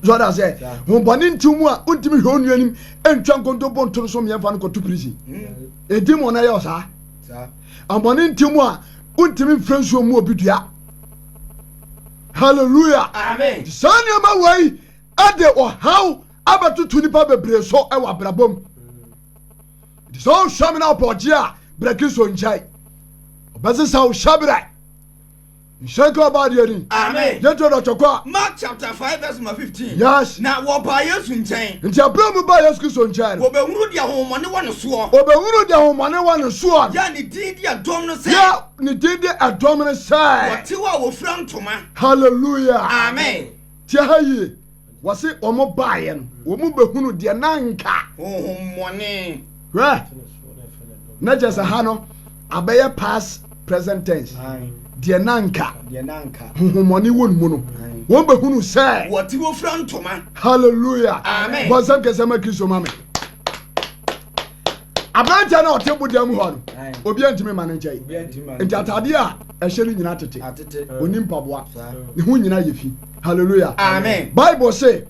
sɔde aseɛ hombɔne nti mu a wontumi hwɛ onua nim ntwa nkontompo nto no so mmiɛmfa no kɔto prison ɛdi mu ɔno ɛyɛ ɔsaa ahomɔne nti mu a wontumi mfrɛ nsuo mu obi dua hallelujah saa nneɛma wei ɛde ɔhaw abɛtoto nipa bebree so ɛwɔ abrabɔ mu Nti sɛ ɔhwɛ me na ɔpɔgye a brɛke so nkyɛe ɔbɛsesa wo hyɛbrɛ nhyɛnka ɔba adeɛ ni amen yɛntu dɔtɔ kɔ a mark chapter 5 verse number 15 yes na wɔbaa yesu nkyɛn nti aberɛ mu baa yesu kristo nkyɛn no wɔbɛhunu deɛ ahohommɔne wɔ ne soɔ wɔbɛhunu deɛ ahohommɔne wɔ ne soɔ yɛ ne din de ɛdɔm no sɛ yɛ ne din de ɛdɔm no sɛ wɔtew a wɔfira ntoma hallelujah amen tiɛ ha yie wɔse wɔn baeɛ no wɔn bɛhunu deɛ na nka honhommɔne hwɛ na kyɛ sɛ ha no abɛyɛ past present tense deɛ na nka honhommɔne wɔ ne mu no wɔn bɛhunu sɛ wɔte wɔfira ntoma halleluya bɔ nsɛm kɛsɛ ma kristo ma me aberanteɛ no ɔte boda mu hɔ no obi antumi ma no nkyɛe nti atadeɛ a ɛhyɛ no nyina tete ɔni mpaboa ne ho nyina yɛ fi hallelujah amen bible se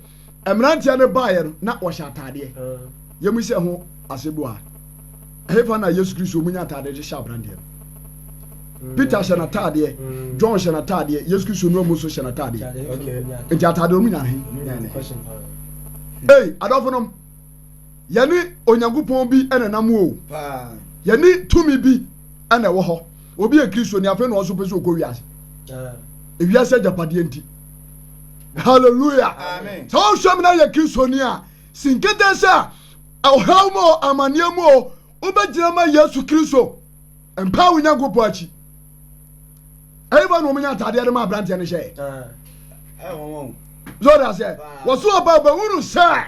mmeranteɛ no baeɛ no na wɔhyɛ ataadeɛ yɛmu sɛ ho asɛm bu a ɛhefa na yesu kristo ɔmu nya ataadeɛ hyehyɛ aberanteɛ no Mm. peter hyɛ n'ataadeɛ mm. john hyɛ n'ataadeɛ yesu kristo nua mu nso hyɛ n'ataadeɛ nti ataadeɛ ɔmu nya he ei adɔfo nom yɛne Onyankopɔn bi na nam hɔ o, yɛne tumi bi na ɛwɔ hɔ. Obi yɛ Kristoni afei na ɔso pɛ sɛ ɔkɔ wiase. Ewiase agyapadeɛ nti. Hallelujah. Sɛ ɔhwɛ mu na yɛ Kristoni a, si nkete sɛ ɔhaw mu o, amanneɛ mu o, wobɛgyina ma Yesu Kristo. Mpa wo Nyankopɔn akyi. Ɛyɛ ba na wɔn nya ataadeɛ de ma aberanteɛ no hyɛ. Zɔɔda sɛ wɔso ɔba ɔbɛhunu sɛ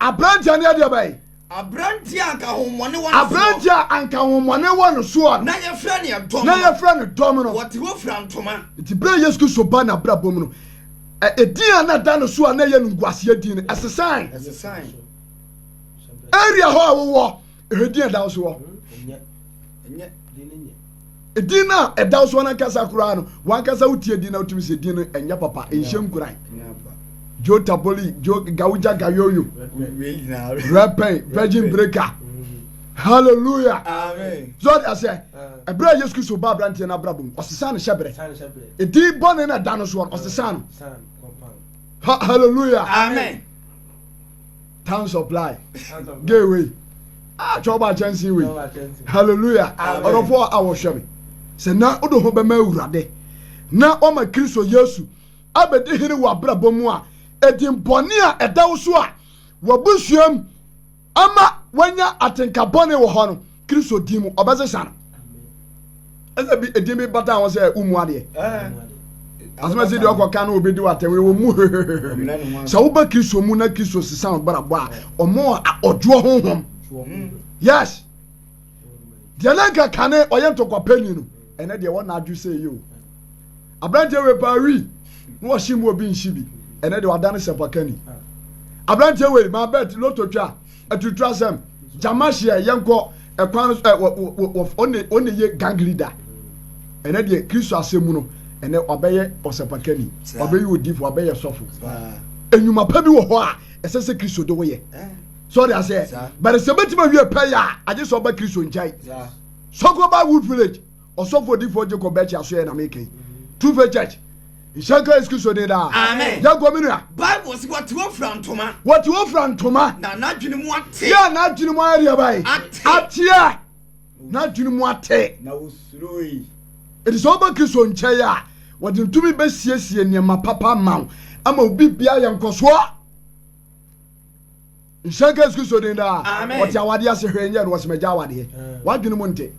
Aberanteɛ no yɛ deɛ bɛn? Aberanteɛ a anka ahohommɔne wɔ no soɔ. Aberanteɛ a anka ahohommɔne wɔ no soɔ no. Na yɛfrɛ no ɛdɔm. Na yɛfrɛ no dɔm no. Wɔte hɔ fira ntoma. Nti berɛ a Yesu Kristo baa n'abrabɔ mu no, ɛdin a na ɛda no so a na ɛyɛ no nguaseɛ din no, ɛsesae. Ɛsesae. Area hɔ a wowɔ, ɛhɔ din a ɛda wo so hɔ. Ɛnyɛ. Ɛnyɛ. Edin no a ɛda wo so ankasa koraa no, wankasa wotie din na wotumi sɛ din no ɛnyɛ papa, ɛnhyɛ nkuran. Joe Taboli, Joe Gauja Gayoyo, Repay, Virgin Breaker. Hallelujah. Amen. So I say, ɛberɛ a Yesu Kristo ba aberanteɛ no abrabɔ mu, ɔsesa no hyɛ berɛ. Edin bɔne na ɛda no soɔ no, ɔsesa no. Hallelujah. Amen. town supply gay wei ah twɛ ɔba kyɛnse wei hallelujah ɔdɔfo a wɔhwɛ me sɛ na wode ho bɛma awurade na ɔma kristo yesu abɛdi hene wɔ abrabɔ mu a ɛdin bɔne a ɛda wo so a wɔbusuam ama wanya atenka bɔne wɔ hɔ no Kristo din mu ɔbɛsesa no. Ɛsɛ bi edin bi bata ho sɛ umu adeɛ. Asomasi deɛ ɔkɔ kan na obi di wata wei wɔn mu hehehehe. Sɛ woba Kristo mu na Kristo sesa wɔn brabɔ a wɔn ɔdwoɔ honhom. Yes. Deɛ na nka kane ɔyɛ ntɔkwa panyin no ɛnɛ deɛ wɔn na adwo sɛ yie o. Aberanteɛ wei paa wi na wɔhyɛ mu obi nhyɛ bi ɛnɛ deɛ ɔadane sɛpakani. Aberanteɛ wei maa bɛt loto twa. Atutu asɛm. Gyama hyia yɛnkɔ ɛkwan no so ɛ ɔne ɔne yɛ gang leader. Ɛnɛ deɛ Kristo asɛm mu no ɛnɛ wabɛyɛ ɔsɛpakani, wabɛyɛ odifo, wabɛyɛ sɔfo. Enyuma pa bi wɔ hɔ a ɛsɛ sɛ Kristo de woyɛ. So ɔde aseɛ. Bɛrɛ sɛ bɛtumi awie pɛ yɛ a agye sɛ ɔba Kristo nkyɛn. Sɔkɔ ba Wood Village. Ɔsɔfo Odifoɔ Jacob Bɛkyi Asoɛe na meka yi. True Faith Church. Nhyɛ nka Yesu Kristo din daa. Amen. Yɛ nkɔ me nua. Bible se wɔte hɔ fira ntoma. Wɔte hɔ fira ntoma. Na n'adwene mu ate. Yɛ n'adwene mu ayɛ deɛ bae. Ate. Ateɛ. N'adwene mu ate. Na wɔsuroe. Eti sɛ woba Kristo nkyɛn a, wɔde ne tumi bɛsiesie nneɛma papa ama wo ama wo biribiara yɛ nkɔsoɔ. Nhyira nka Yesu Kristo din daa. Ɔte awadeɛ ase hwɛ nyɛ no ɔsɛ magya awadeɛ. Wadwene mu nte.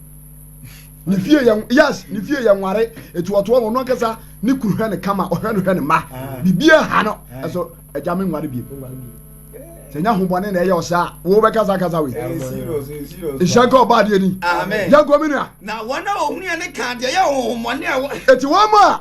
Ne fie yɛ yes ne fie yɛ nware etu ɔtoɔ no ɔno ankasa ne kuru hwɛ ne kama ɔhwɛ no hwɛ ne mma bibia ha no ɛso agya me nware biem. Sɛ nya ho bɔne na ɛyɛ ɔsɛ a wo bɛka saa kasa wei. Nhyira nka ɔbaa deɛ ni. Yɛnkɔ me nua. Na wɔn a wɔhunu yɛ ne ka deɛ yɛ honhommɔne a ɛwɔ. Eti wɔn a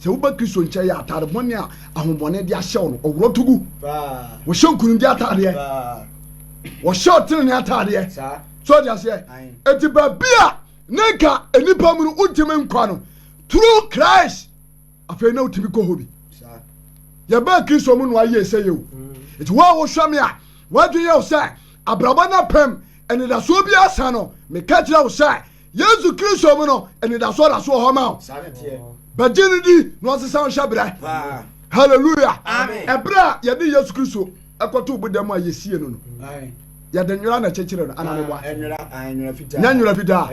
Sɛ woba Kristo nkyɛn yɛ atade bɔne a ahobɔne de ahyɛ wo no, ɔworɔ to gu. Wɔhyɛ nkunimdi atadeɛ. Wɔhyɛ ɔtenene atadeɛ. So ɔde aseɛ. Eti baabi a na nka nnipa mu no wontumi nkɔ no, through Christ, afei na wotumi kɔ hɔ bi. Yɛbɛɛ Kristo mu no ayie sɛ yɛ o. Eti wo a wohwɛ me a, wadwene yɛ wo sɛ abrabɔ no apem anidasoɔ bi asa no, meka kyerɛ wo sɛ Yesu Kristo mu no, anidasoɔ da so wɔ hɔ ma wo. Bɛgye no di na ɔsesa wo hyɛ berɛ. Hallelujah. Ɛberɛ a yɛde Yesu Kristo ɛkɔto boda mu a yɛsie no no. Yɛde nwera na ɛkyekyere no anaa meboa. Nyɛ nwera fitaa.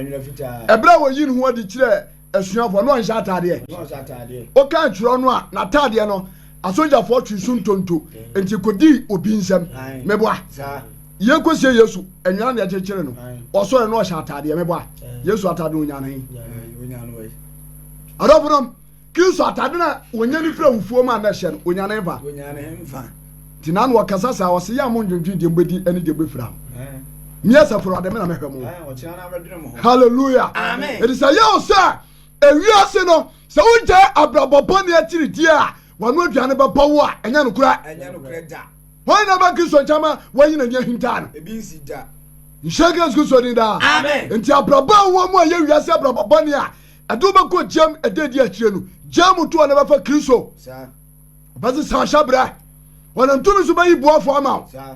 Ɛberɛ a wɔyi ne ho adi kyerɛ asuafoɔ na ɔnhyɛ ataadeɛ. Woka atwerɛ no a n'ataadeɛ no Asogyafoɔ twee so ntonto, nti kɔdii obi nsam. Meboa. Yei kɔsie Yesu anwira na ɛkyekyere no. Ɔsɔre na ɔhyɛ ataadeɛ. Meboa. Yesu atade no ɔnya no he? Adɔfo nom, Kristo atade na ɔnya no firi awufoɔ mu a na ɛhyɛ no, ɔnya no mfa. Nti na na ɔkasa saa, ɔse yɛ a mo ndwendwen deɛ mobɛdi ne deɛ mobɛfira ho. Meɛ sɛ foro ade me na mɛhwɛ mo. Hallelujah. Amen. Ɛdi sɛ yɛ ɔsɛ Ewiase no, sɛ wogyae abrabɔ bɔne akyiri di a, wano aduane bɛbɔ wo a, ɛnyɛ nokorɛ. Ɛnyɛ nokorɛ da. Hwan na ɛbɛ Kristo nkyɛn ma wɔayi n'ani ahintaa no? Ebi nsi da. Nhyɛ Yesu Kristo din daa. Amen. Nti abrabɔ a wowɔ mu a ɛyɛ wiase abrabɔ bɔne a ɛde wo bɛkɔ gyam ɛda edi akyire no, gyaa mu to hɔ na bɛfa Kristo. Saa. Ɔbɛsesa ahyɛbrɛ. Ɔnam tumi so bɛyi boafo ama wo. Saa.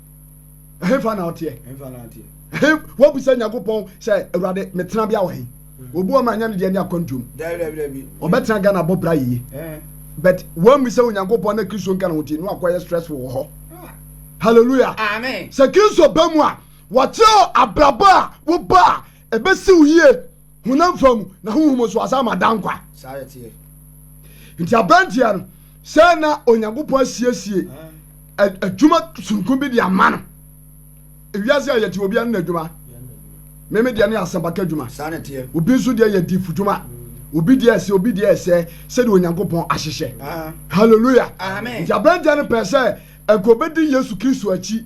ɛhefa na ɔteɛ ɛhe wabisa nyankopɔn sɛ awurade metena bia wɔ he hmm. obi wɔ ma anya ne deɛ ne akwantuom ɔbɛtena ghana bɔ bra yie eh. but wammisa onyankopɔn na kristo nka ne ho tie no akɔyɛ stressful wɔ hɔ ah. hallelujah sɛ kristo ba mu a wɔkyerɛ abrabɔ a woba a ɛbɛsi wo yie honam fam na honhom nso asan ma da nkwa. Saa yɛ teɛ. Nti aberanteɛ no, sɛ na Onyankopɔn asiesie adwuma soronko bi de ama no. Ewiase a yɛte obiara ne n'adwuma. Meme deɛ ne asɛmpaka adwuma. Obi nso deɛ yɛ difo dwuma. Mm. Obi deɛ ɛsɛ, obi deɛ ɛsɛ sɛdeɛ Onyankopɔn ahyehyɛ. Ah. Hallelujah. Nti aberanteɛ no pɛ sɛ ɛkɔbɛdi Yesu Kristo akyi.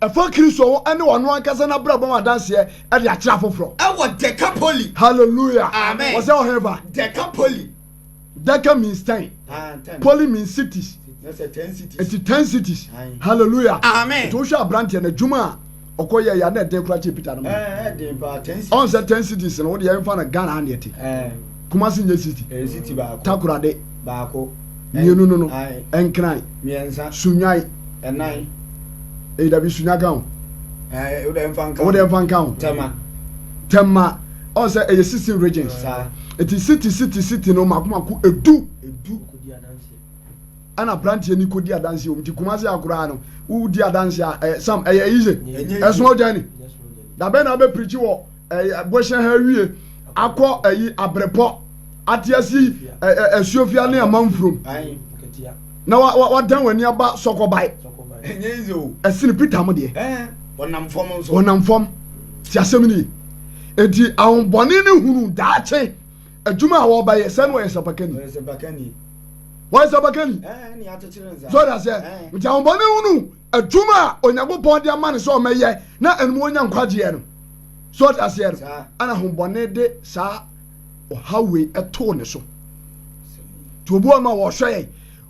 Ɛfa Kristo ho ne ɔno ankasa n'abrabɔ ho adanseɛ de akyerɛ afoforɔ. Ɛwɔ Dekapoli. Hallelujah. Amen. Wɔsɛ ɔhefa. Dekapoli. Deca means ten. Ah, ten. Poly means cities. That's a ten cities. It's ten cities. Aye. Hallelujah. Amen. To show brandy and a juma. Oko ya ya na den kura che pita no. Eh, eh den pa ten cities. On se ten cities no, wo de ya mfa na Ghana na yete. Eh. Kumasi nyɛ city. Ɛyɛ city baako. Takorade. Baako. Mmienu no no. Ae. Nkran. Mmiɛnsa. Sunyai. Ɛnan. Eyi dabi sunya ka ho. Ɛɛ o dɛ nfa nka ho. O dɛ nfa nka ho. Tɛma. Tɛma. Ɔn sɛ ɛyɛ sixteen regions. Saa. Eti city city city no mako mako edu. Edu. Ɛna aberanteɛ ni kodi adansi wɔn ti Kumasi akoraa no wodi adansi a ɛyɛ sam ɛyɛ easy. Ɛnyɛ easy. Ɛsono journey. Dabɛn na abɛ pirikyi wɔ. ɛɛ bɔhyɛ ha awie akɔ ɛyi abrepɔ atease ɛɛ asuofia ne amanfurom na wa wa wadan wani aba sɔkɔbae ɛsene peter mo deɛ ɔnam fam ti asɛm ni eti ahombɔne ne hunu daakye adwuma a wɔbɛyɛ sɛ no ɔyɛ sapakani wɔyɛ sapakani sɔrɔ aseɛ nti ahombɔne hunu. adwuma a onyankopɔn de ama no sɛ ɔmɛyɛ na ɛnom ɔnya nkwagyeɛ no so ɔte aseɛ no ana hombɔne de saa ɔhaw wei ɛtoo ne so nti obi wɔ no a wɔhwɛ yɛn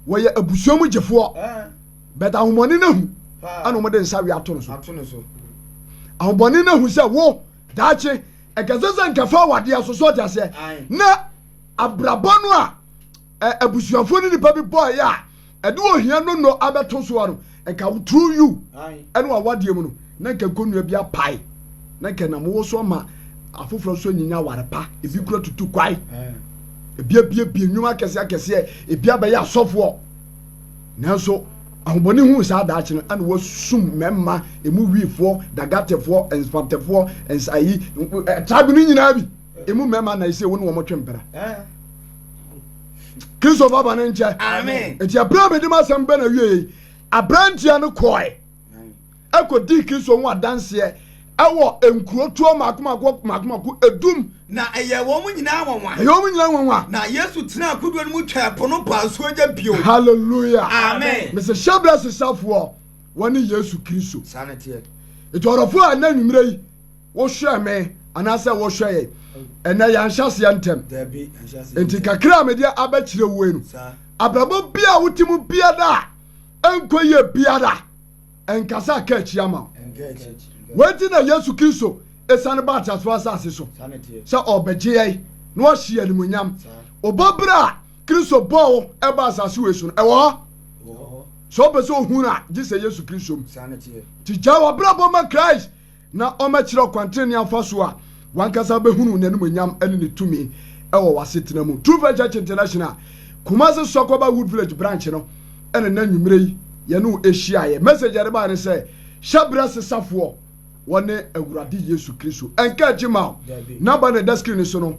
wɔyɛ abusua mu gyefoɔ bɛt ahombɔne no ahu ana wɔde nsa we ato no so ahombɔne no ahu sɛ wo daakye ɛkɛsɛ sɛ nkɛfa awadeɛ so so ɔte aseɛ na abrabɔ no a abusuafoɔ no nipa bi bɔɔyɛ a Ɛde ohia no nnɔ abɛto so a no, nka wo true you ɛne w'awadeɛ mu no, na nka nkonnua bi apae, na nka ɛnam wo so ama afoforɔ nso anyinya aware pa, ebi kura tutu kwae, ebi abiebie nnwuma akɛseɛ akɛseɛ, ebi abɛyɛ asɔfoɔ. Nanso ahobɔne huu saa daakye no, ɛna wɔasum mmarima, emu wifoɔ, dagatefoɔ, nspantefoɔ, nsayi, tribe no nyinaa bi. emu mmarima na ɛsɛ wo ne wɔn twe mpena kristo baba ne nkyɛ nti abere a mede m'asɛm bɛ na wie yi aberanteɛ no kɔe ɛkɔdii kristo ho adanseɛ ɛwɔ nkurotoɔ mako mako mako mako edum na ɛyɛ wɔn mu nyinaa nwanwa ɛyɛ wɔn mu nyinaa nwanwa na yesu tena akodoɔ no mu twaa po no paa nsuo gya bio hallelujah amen mesɛ hyɛ berɛ sesafoɔ wɔne yesu kristo saa ne teɛ nti ɔdɔfoɔ a ɛnɛ nwummerɛ yi Wohwɛɛ me anaasɛ wohwɛe? Ɛnɛ yɛanhyɛ aseɛ ntɛm. Enti kakra a mede abɛkyerɛ wue no, abrabɔ bi a wote mu biara a ɛnkɔ yie biara, ɛnkasa aka akyiri ama wo. Wei nti na Yesu Kristo ɛsiane baa ateasefoɔ asase so sɛ ɔrebɛgye yɛn na wahye yɛn animuonyam. Wobɔ berɛ a Kristo bɔɔ wo ɛbaa asase wei so no, ɛwɔ hɔ. Sɛ wopɛ sɛ ohunu a, gye sɛ Yesu Kristo mu. Nti gyae w'abrabɔ ma Christ na ɔmmɛkyerɛ ɔkwan trenee afa so a w'ankasa bɛhunu n'animuonyam ne ne tumi wɔ w'asetena mu. True Faith Church International Kumasi Sɔkɔba Wood Village Branch no na nnɛ anwumerɛ yi yɛne wo hyiaeɛ. Message a yɛde baeɛ ne sɛ, Hyɛ berɛ sesafoɔ, wɔne Awurade Yesu Kristo. Ɛnka akyi mma wo. Number no a ɛda screen no so no,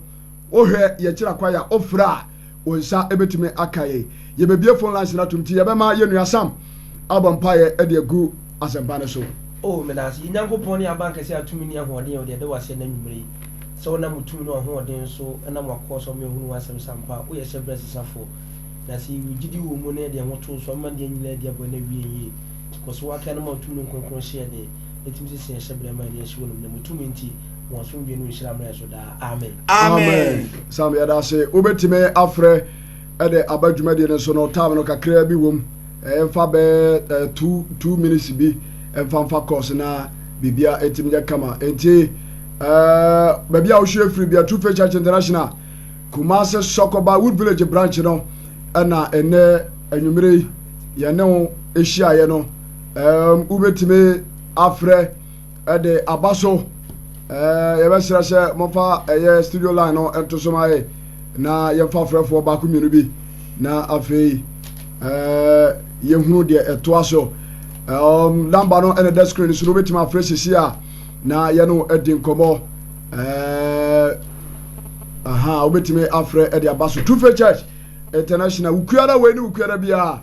Wohwɛ yɛn kyerɛ akwan a wofrɛ a, wo nsa betumi aka yɛn. Yebebue phone lines no atom nti yɛbɛma yɛn nua Sam abɔ mpaeɛ de agu asɛmpa no so. O meda ase, yɛ Nyankopɔn ne Abankɛse a tumi ne ahoɔden yɛ ɔde ɛda wo ase ɛnɛ anwumerɛ yi sɛ wo nam wo tumi ne wahoɔden so nam wakoa so ama yɛahunu w'asɛm sɛ ampa wo yɛ hyɛ berɛ sesafoɔ na sɛ yɛwɔ gyidie wɔ wo mu na yɛde yɛn ho too so a mema deɛ nyinaa adi aboa na awie yɛn yie kɔ so w'akan no ma wo tumi ne wo kronkron hyeɛ den ɛtumi sesa yɛn hyɛ berɛ ma yɛn ani ahye wɔ animuonyam wo tumi nti wɔn asomdwe no nhyira mmerɛ so daa amen amen sam yɛda ase wobɛtumi afrɛ ɛde aba dwumadie no so no time no kakraa bi wom ɛmfa eh, bɛɛ eh, two two minutes bi ɛmfa mfa course na biribia ɛtumi nyɛ kama enti eh, baabi a wohwɛ firi bia true faith church international kumase sɔkɔba wood village branch no ɛna ɛnɛ anwummere yi yɛne wo ɛhyiaeɛ no wobɛtumi afrɛ de aba so. Ɛɛ yɛbɛsrɛ sɛ mofa ɛyɛ studio line no nto so ma yɛ na yɛmfa frɛfoɔ baako mmienu bi na afei ɛɛ yɛhunu deɛ ɛtoa so. Um, namba no ɛna da screen so no wobɛtumi afrɛ sisi a na yɛne adi nkɔmmɔ. Ɛɛ aha wobɛtumi afrɛ ɛde aba so. Tufe Church International wukuara wei ne wukuara biara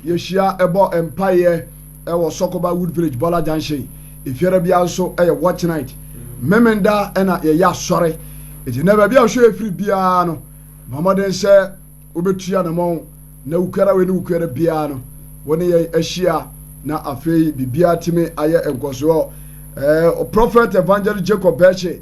Yɛhyia bɔ mpaeɛ wɔ Sɔkoba Wood Village, Bɔla Junction. Efiara biara nso yɛ watch night. Memenda na yɛyɛ asɔre. Enti na baabi a ɔhwɛ yɛ firi biara no, bɔ mmɔden sɛ wobɛtu anamɔn na wukuara wei ne wukuara biara no, wo ne yɛn ahyia na afei biribiara tumi ayɛ nkɔsoɔ. Ɛɛ Prophet Evangelist Jacob Bɛɛkye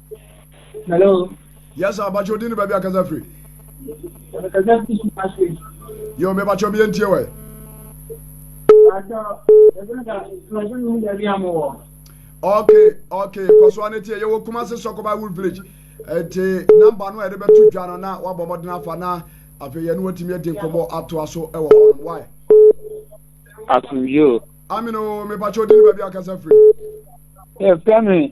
Hello. Yes, sir. Bacho dini baby akasa free. Akasa free si pasi. Yo, me bacho bi entie wai. Bacho, ebe da, tumajo ni mi dabi amu wo. Okay, okay. Koso ane tie, yewo kuma se soko by Wood Village. Ete, namba no ede betu dwa no na wabɔ mmɔden afa na afei yɛne watumi adi nkɔmmɔ atoa so wɔ hɔnom. Why? Asomdwoo. Amino, me bacho dini baby akasa free. Yeah, fẹ́ mi.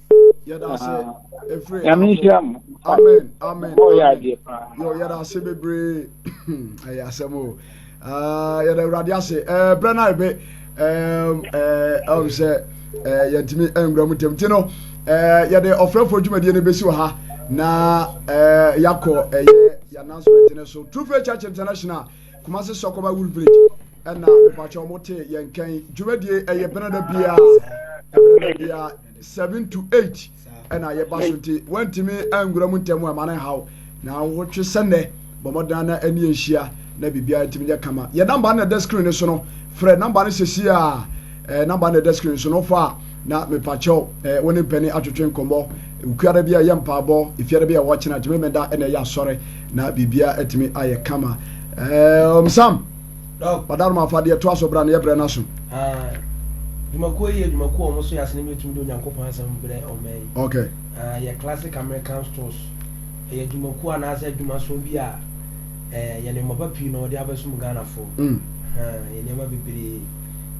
yɛda ase efiri afɔ amen amen yɔ yɛda ase bebree ɛyɛ asɛm o yɛda awurade ase ɛɛ brɛ na ebe ɛɛ ɛɛ ɛwɔ sɛ ɛɛ yɛntumi ɛnwura mu ntɛm ti no ɛɛ yɛde ɔfrɛfoɔ dwumadie no besi wɔ ha na ɛɛ yakɔ ɛyɛ yɛn announcement no so true faith church international kumasi sɔkɔba wool village ɛna mpatsɛ wɔn te yɛn kɛn dwumadie ɛyɛ bɛnɛ da biara ɛbɛnɛ da biara. seven to eight ɛna yɛba so nti wantumi angura mu ntɛm ɛma no nhaw na wotwe sɛ nnɛ bɔmmɔdan na ani ahyia na biribiara ntumi nyɛ kama yɛ namba no na ɛda screen no so no frɛ namba no sɛsi a ɛɛ namba no ɛda screen no so no fa na mepakyɛw ɛɛ wɔne mpanin atwetwe nkɔmmɔ okuada bi a yɛ mpaabɔ efiada bi a wɔkyena tumi meda ɛna ɛyɛ asɔre na biribiara atumi ayɛ kama ɛɛ ɔmsam. Ɔda no ma fa deɛ ɛtoa so bra na yɛbrɛ no aso. Dwumakuo yi yɛ dwumakuo a wɔn so yɛ asene bi tumi de Onyankopɔn asɛm brɛ ɔman yi. Okay. Uh, yɛ classic American stores. Ɛyɛ dwumakuo anaasɛ adwumaso bi a eh, yɛ nneɛma pa pii na wɔde abɛsom Ghanafo. Mm. Uh, yɛ nneɛma bebree.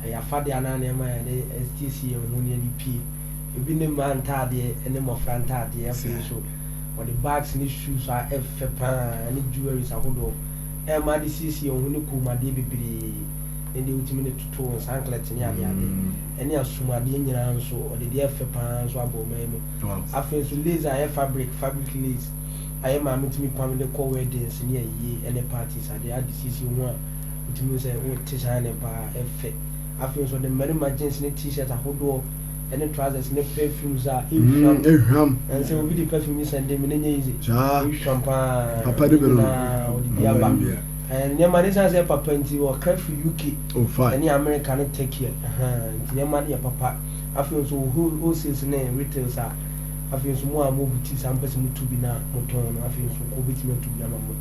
Ɛyɛ afadeɛ anaa nneɛma a yɛde asiesie yɛn ho ne yɛde pie. Ebi ne mmaa ntaadeɛ ne mmɔfra ntaadeɛ afei nso wɔde bags ne shoes a ɛfɛ paa ne jewelries ahodoɔ. ɛmma ade siesie wo ho ne kɔnmuadeɛ bebree, ne deɛ wotumi de toto wo nsa anklɛt ne adeade, ɛne asomuadeɛ nyinaa nso, ɔde deɛ ɛfɛ pa ara nso abɔ ɔman mu. Afei nso lace a ɛyɛ fabric, fabric lace, a yɛ maame tumi pam de kɔ weddings ne ayie ne parties adeɛ ade siesie wo ho a wotumi hu sɛ wote hyɛne pa ara, ɛfɛ. Afei nso ɔde mmarima jeans ne t-shirt ahodoɔ, ɛne trousers ne perfumes a ehwam mm, ehwam ɛnsɛ obi de perfume yi sɛn de mi ne nyɛ yize ehwam paa papa de bɛrɛ ɔde bi aba nneɛma ne san sɛ papa nti ɔkra firi uk ɛne oh, america ne turkey nti nneɛma ne yɛ papa afei nso wholesales ne retails a afei nso mu a mo buti saa mpɛ sɛ mo tu bi na mo tɔn no afei nso kɔ obi tumi atu bi ama mo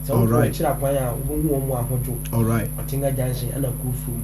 sɛ wokɔ akyira kwan a wobɛhu wɔn mu ahodwo ɔtenga junction ɛna kuro fam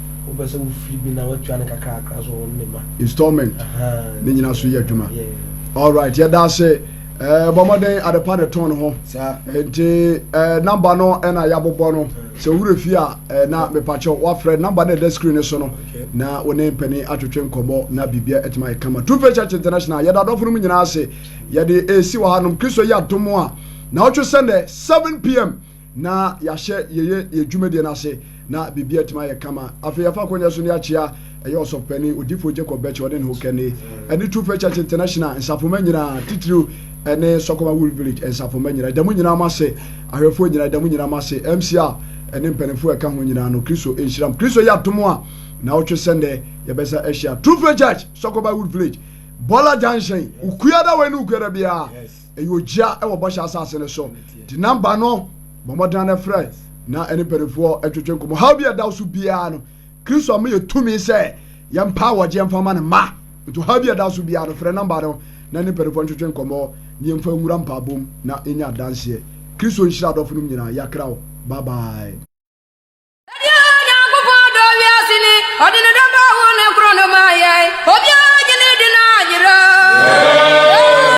wopɛ sɛ wofiri bi na watua no kakrakra so wɔn ne ma installment ne nyina so yɛ adwuma alright yɛda ase eh, bɔ mmɔden adepa ne tɔn ho nti eh, namba no ɛna yɛabobɔ no sɛ wura fie a eh, na mepakyɛ woafrɛ namba no ɛda screen no so no na wo ne mpani atwetwe nkɔmmɔ na biribia atumi ayɛ kama two face church international yɛda adɔfo no mu nyinaa ase yɛde ɛsi wɔ hanom kristo yɛ adom a na wotwe sɛ 7 pm na yɛahyɛ yɛyɛ yɛ dwumadie no ase na biribiara atumi ayɛ kama. Afei yɛafa akonnwa so ne akyea ɛyɛ ɔsɔfopanin odifoɔ Jacob Bɛkye ɔne ne ho kɛne ɛne True Faith Church International nsafomma nyinaa titiriw ɛne Sɔkɔma Wool Village nsafomma nyinaa ɛda mu nyinaa mo ase ahwɛfoɔ nyinaa ɛda mu nyinaa mo ase MCR ɛne mpanimfoɔ ɛka ho nyinaa no Kristo nhyira mo Kristo yɛ atom a na ɔtwe sɛ nnɛ yɛbɛsa ahyia True Faith Church Sɔkɔma Wool Village Bɔla Junction Ukuada wei ne Ukuada biara Ɛyɛ ogyia wɔ Bɔhyɛ Asase no so. Di namba no, bɔ mmɔden ara frɛ, na ɛne mpanimfoɔ ntwetwe nkɔmmɔ. Haw bi a ɛda wo so biara no, Kristo ama yɛn tumi sɛ yɛmpa awɔgyeɛ mfa mma Ne mma. Nti ɔhaw bi a ɛda wo so biara no, frɛ namba no, na ɛne mpanimfoɔ ntwetwe nkɔmmɔ, na yɛmfa nwura mpaebɔ mu na yɛnyɛ adanseɛ. Kristo nhyira adɔfo nom nyinaa. Yɛakra wo. Bye bye. Ɛdeɛn Nyankopɔn dɔ wiase ni, ɔde ne dɔ ba wo ne koro no maa yɛn, obiara gye ne di na ayera.